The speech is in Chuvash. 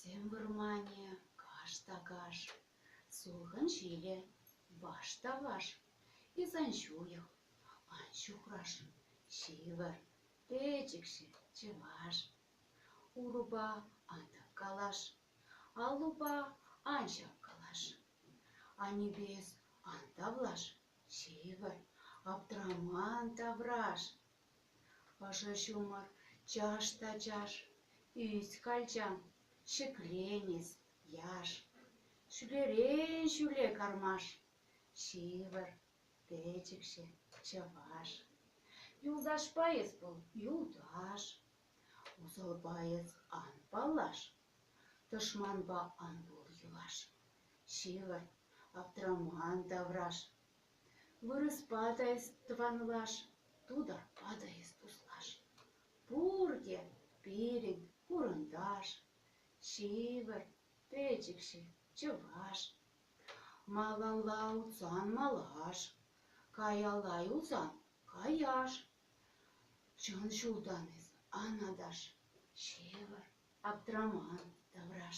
Тем вӑрманӗ каш та каш, Сулхӑн ҫилӗ ваш та ваш, Эс ан ҫуйӑх, ан ҫухраш, Ҫывӑр, пӗчӗкҫӗ чӑваш. Урупа ан тӑк калаш, Аллупа ан ҫак калаш. Аннӳпе эс ан тавлаш, ҫывӑр, аптраман тавраш. Ӑшӑ ҫумӑр чаш та чаш, ӳс, калчам, ҫӗклен эс, яш. Ҫӳлерен ҫӳле кармаш, ҫывӑр, печӗкҫӗ, чӑваш. Юлташпа эс вӑл юлташ. Усалпа эс ан паллаш, тӑшманпа ан пул йӑлаш, ҫывӑрт, аптраман тавраш. Вырӑспа та эс тӑванлаш, тутарпа та эс туслаш. Пурте пирӗн хурӑнташ, ҫывӑрт, пӗчӗкҫӗ чӑваш. Малалла утсан малаш, каялла юлсан каяш. Чӑн ҫултан эс, Анаташ, ҫывӑр, аптраман тавраш.